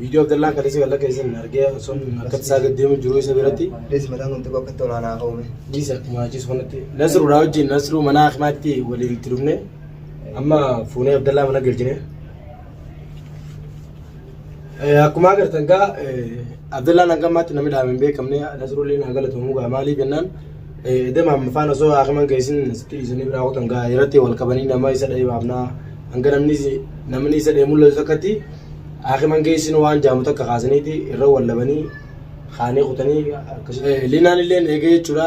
Viidiyoo Abdallaan kaleessa kan lakkeessan argee osoon akkatti isaa gad deemu jiru isa biratti. Dhiisi mataan kun xiqqoo akkatti olaanaa ka'ume. Dhiisa akkuma achiis kanatti. Nasruudha wajjin Nasruu mana hakimaatti waliin itti dhufne. Amma fuunee Abdallaa mana galchine. Akkuma agartan gaa Abdallaan hanga ammaatti namni dhaame hin beekamne Nasruulleen haa galatoomuu gaa maaliif jennaan edema amma faan osoo hakiman geessin asitti dhiisanii biraa kutan gaa irratti wal qabanii nama isa dha'ee baafnaa hanga namni isa dha'ee mul'atu takkatti Aakiman geessin waan jaamu takka kaasaniiti irra wallabanii kaanee kutanii akkasuma. Linaan illee eegee jechuudha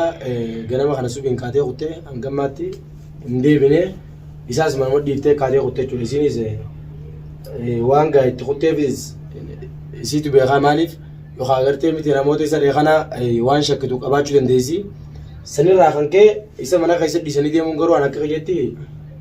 ganama kana subiin kaatee kutte hangammaatti hin deebine isaas manuma dhiiftee kaatee kutte jechuudha isiinis waan gaa itti kutteefis isiitu beekaa maaliif yookaan agartee miti namoota isa reekanaa waan shakkitu qabaachuu dandeessi sanirraa kan ka'e isa mana keessa dhiisanii deemuun garuu an akka kiyyetti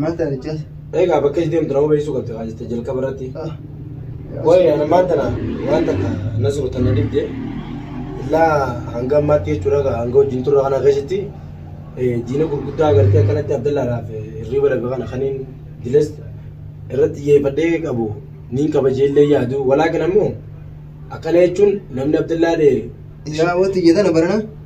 Maal taate jecha? Egaa bakka itti deemtu nama beeksisuu qabdi kaa jette jalqaba irratti. Waa'ee ana maal tana waan takka nasru tana dibde illaa hanga ammaatti jechuudha egaa hanga wajjin turre kana keessatti eh, diina gurguddaa agartee akkanatti abdallaadhaaf eh, hirriba lafe kana kaniin diles irratti xiyyeeffadhee qabu niin kabajee illee yaadu walaakin ammoo akkana jechuun namni abdallaa ta'e Yaa wanti jetana barana.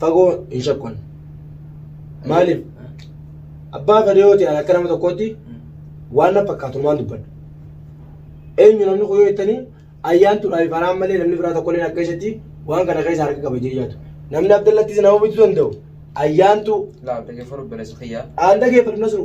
fagoo hin shakkun. Maaliif? Abbaa fedhe yoo ta'e akka nama tokkootti waan na fakkaatu waan dubbadha. Eenyu namni kun yoo jettanii ayyaantuudhaa fi faraan malee namni biraa tokko illee akka keessatti waan kana keessa harka qaba jee yaadu. Namni Abdallattis nama bituu danda'u ayyaantuu Laal dhaggeeffadhu obboleessa kiyyaa. aan dhageeffadhu nasru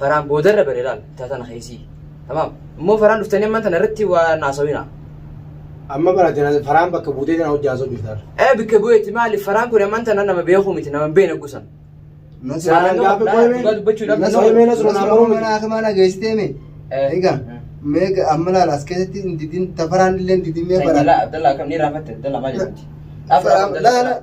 faraan boodarra bane laal ta tana keessii tamaam immoo faraan dhuftanii amman tana irratti waa naasawina Amma bara tana faraan bakka buutee tana hojjaa soo jirta. ee bikka bu'eetti maali faraan kun amman tana nama beekuu miti nama hin beekne gusan Faraan gaafa dhugaa qoyme. dubbachuu dhabna Nasroo Qoyme nasroo naa maruu miti. Mana mana geessitee mee? Eh. Egaa mee amma laala as keessatti hin didin tafaraan illee hin didin mee Abdallah, bara. Abdallah, kam ni rafate? Abdallah, maal jedhamti? Laala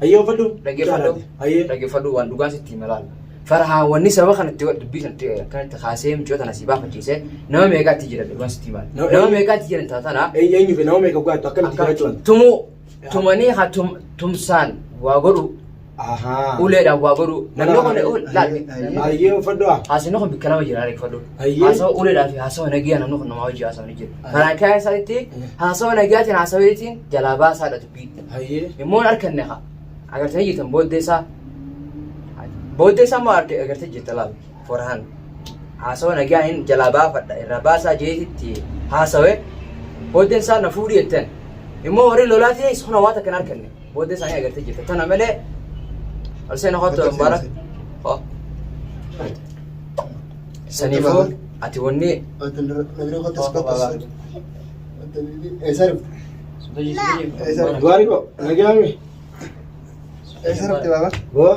Hayyee uffadhu. Dhaggeeffadhu. Hayyee. Dhaggeeffadhu waan dhugaa sitti hima laala. Farahaan wanni sababa kanatti dubbii sanatti akkanatti kaasee mucoo tana si baafachiise nama meeqaatti jiran dhugaa sitti hima. No, Nama eh. meeqaatti jiran taatana Eenyu eenyu fi nama meeqa gogaatu akkamitti jiraachuu? akka tumuu tumanii haa tum- tumsaan waa godhu Ahaa. Uleedhaan waa godhuu. Namni kun laal. Ayyee uffadhu haa. Haasofni kun bikka lama jira reeffadhu. Ayyee. Haasawa uleedhaa fi haasawa nagaa namni kun namaa hojii haasawni jira. Ayyee. Kanaan ka'aa isaanitti Ayyee. haasawa nagaatiin haasaweetiin jalaa baasaa dha dubbii. Ayyee. Immoo hin arkanne haa. Agartanii jirtan booddee isaa. Booddee isaa immoo arge- agartee jirta laal. Forhaan. Haasawa nagaa hin jalaa baafadha irraa baasaa jeetitti haasawe. Booddeen isaa na fuudhi jetteen. Immoo warri lolaatiin sona waan takka hin arkanne. Booddee isaanii agartee jirta. Tana malee Alseen Hotto Mubaarak. Hoo. Saniifuu ati wanni Gaarii koo nagaame. Eessa dhufte baaba? Boo.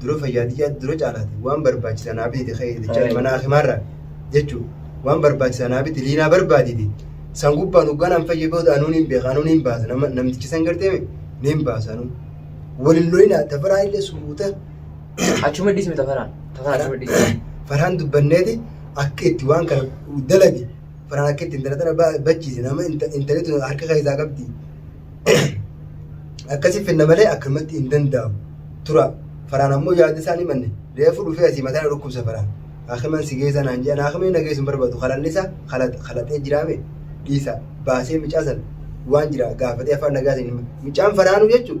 dura fayyaa tiyyaa dura caalaati waan barbaachisa naa bitite ka'ee jechaa mana hakimaarraa jechuun waan barbaachisa naa bitite liinaa barbaadite san gubbaan hogganaan fayya booda anuu niin beeka anuu niin baasa nama namtichi san gartee niin baasa anuu waliin lolinaa tafaraa illee suuta Achuma dhiisme tafaraan. Tafaraan achuma dhiisme. faraan dubbanneeti akka itti waan kana dalage faraan akka itti intala tana ba- bachiise nama inta- intali tun harka keessaa qabdi akkasii finna malee akkamatti hin danda'amu tura faraan ammoo yaada isaa ni manne reefu dhufee asii mataa na dhukkubsa faraan hakiman si geessa naan jedhan hakimni na geessu hin barbaadu kalanni isaa kalaxee jiraame dhiisa baasee micaa san waan jira gaafatee afaan nagaa isin hima micaan faraanuu jechuun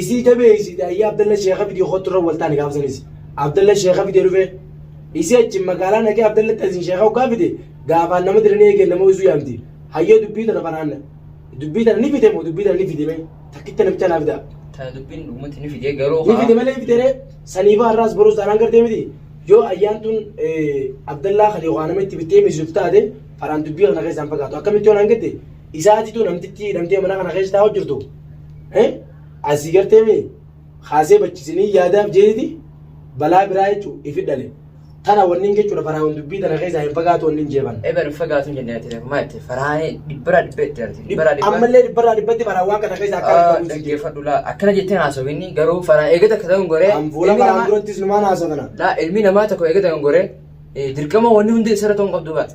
Isii jabeessite ayyaa Abdalla Sheekha fidii kottu irra wal taane gaafa sanis Abdalla Sheekha fidee dhufe isii achi magaalaa naqee Abdalla Xasin Sheekha hoggaa fide gaafaan nama diranii eegeen nama uysuu yaamti hayyoo dubbii tana faraanna dubbii tana ni fide moo dubbii tana ni fide mee takkicha namicha naa fidaa. Tana dubbiin dhugumatti ni fidee garuu Ni fide malee fide ree saniifaa har'aas boruus taanaan gartee miti yoo ayyaan tun Abdallaa kan yookaan nama itti bittee miisuuf taate faraan dubbii kana keessaan fagaatu akkamitti yoo naan gatte isaatitu namtitti hidhamtee mana kana keessa taa'u jirtu Asii gartee mee kaasee bachisinii yaadaaf jeeti balaa biraa jechuun ifi dhale. Tana wanni hin jechuudha faraahuun dubbii tana keessaa hin fagaatu wanni hin jeefan. Egaa hin fagaatu hin jennee ati maal itti faraahee dhibbaraa dhibbee itti arti dhibbaraa dhibbaa. Ammallee dhibbarraa dhibbatti faraa waan kana keessaa akka hin fagaatu. Dhaggeeffadhu laa akkana jettee haasawinni garuu faraa eegata akka ta'u hin goree. An fuula faraan durattis numaan haasofana. Laa ilmi namaa tokko eegata hin goree dirqama wanni hundi isarra ta'uu hin qabdu baate.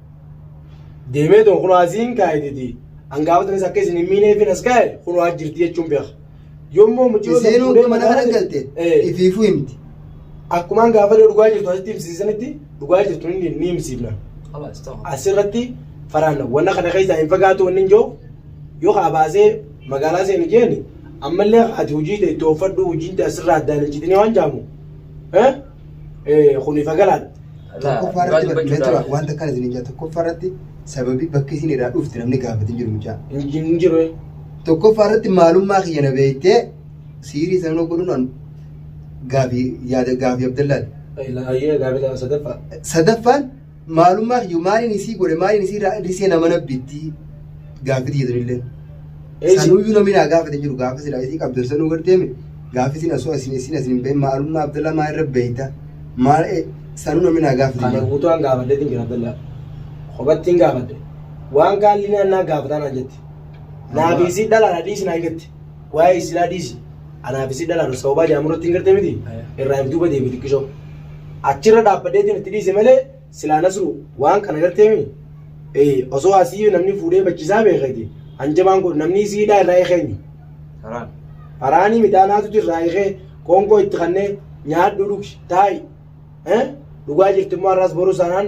deemee too kunoo asiin kaayititi hangafa tanis akka isin hin miineefin as kaaye kunoo as jirti jechuun beeka yommuu mucayoo sana Isiinuu fuudhee mana kana galte Eh. ifiifuu himti. akkuma hangafa ta'e dhugaa jirtu asitti himsiisanitti dhugaa jirtu ni ni himsiifna خلاص تمام asirratti faraanna wanna kana keessaa hin fagaatu wanni hin jiru yoo kaa baasee magaalaa seenu jeeni ammallee ati hojii ta'e itti ooffadhu hojiin ta'e asirraa addaan hin citinee waan jaamu eh? kuniifa galaan. Tokkoffaa irratti barreeffamee tura wanta kana isin ijaa tokkoffaa irratti sababii bakki isin irraa dhufte namni gaafate jiru mucaa. Hin jiru. Tokkoffaa irratti maalummaa kiyya na beektee siirii sanuu godhuun gaafii yaada gaafii Abdallaati. Ayyee gaafii sadaffaa. Sadaffaan maalummaa kiyyu maaliin isii godhe maaliin isii irraa hir'isee nama nabbitti gaaffiti jedhanillee. Sanuyyuu namni naa gaafate jiru gaafa silaa isii qabdu sanuu gad deeme gaafa isin asoo isin isin isin bahe maalummaa Abdallaa maa irra beeyta maal sanuu namni naa gaafate Kana jiru. guutuu an gaafadhee hin jira Abdallaa. Kophattiin gaafadhe. Waan gaalli naan naa gaafataa naan jetti. Naa fi isii dhalaadha dhiisi naan jetti. Waa'ee isinaa dhiisi. Anaaf isin dhalaan sababaa jedhamu irratti hin gartee miti. Irraa if duuba deebi xiqqishoo. Achirra dhaabbadheetiin itti dhiise malee silaa nasru waan kana gartee miti. Ee osoo asii namni fuudhee bachisaa beekati hanjabaan kun namni isii hidhaa irraa eekeenyu. Karaan. Faraanii miti anaatu jirraa eekee qoonqoo itti kannee nyaadhu dhugi taa'i. Eh? Dhugaa jirti immoo har'aas borus anaan